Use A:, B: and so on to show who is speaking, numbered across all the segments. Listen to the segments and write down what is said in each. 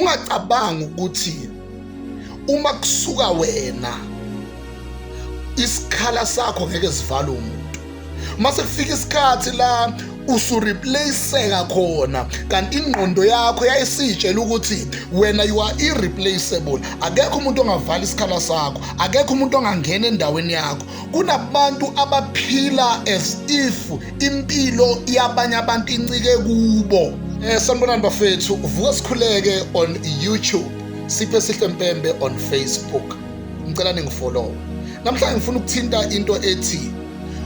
A: ungacabanga ukuthi uma kusuka wena isikhala sakho ngeke sivale umuntu mase kufika isikhathi la usureplaceeka khona kanti ingqondo yakho yayisitshela ukuthi wena you are irreplaceable akekho umuntu ongavala isikhala sakho akekho umuntu ongangena endaweni yakho kunabantu abaphila as if impilo yabanye abantu incike kubo um sanibonani bafethu vuka sikhuleke on youtube siphe sihle mpembe on facebook ngicela ningifolowe namhlanje ngifuna ukuthinta into ethi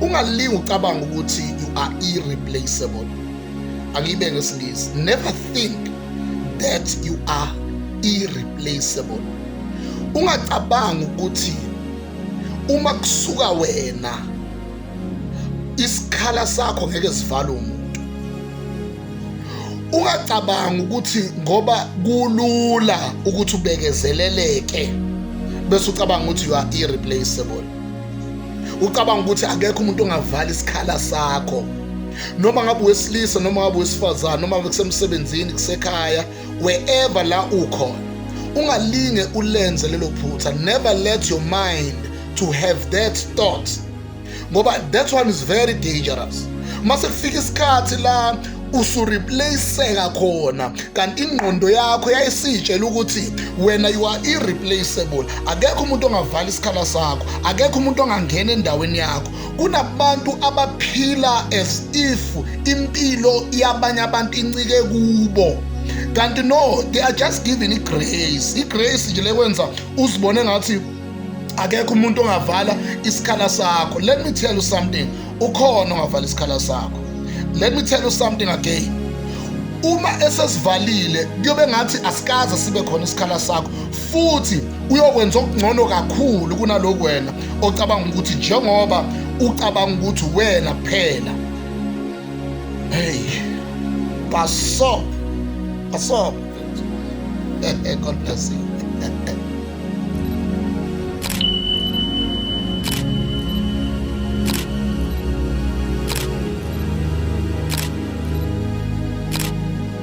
A: ungalingi ucabanga ukuthi you are irreplaceable angiyibe ngesingisi never think that you are irreplaceable ungacabanga ukuthi uma kusuka wena isikhala sakho ngeke sivale umuntu ungacabanga ukuthi ngoba kulula ukuthi ubekezeleleke bese ucabanga ukuthi you are irreplaceable ucabanga ukuthi akekho umuntu ongavala isikhala sakho noma ngabe wesilisa noma ngabe wesifazane noma ngabe kusemsebenzini kusekhaya wherever la ukhona ungalinge ulenze lelo phutha never let your mind to have that thought ngoba that one is very dangerous mase kufika isikhathi la usureplaceka khona kanti ingqondo yakho yayisitshela ukuthi wena you are irreplaceable akekho umuntu ongavala isikhala sakho akekho umuntu ongangena endaweni yakho kunabantu abaphila as if impilo yabanye abantu incike kubo kanti no they are just given igrace igrace nje lekwenza uzibone ngathi akekho umuntu ongavala isikhala sakho let me tell you something ukhona ongavala isikhala sakho let me tell you something again uma esesivalile kuyobe ngathi asikaze sibe khona isikhala sakho futhi uyokwenza okungcono kakhulu kunaloku wena ocabanga ukuthi njengoba ucabanga ukuthi wena kuphela hey baso baso God bless you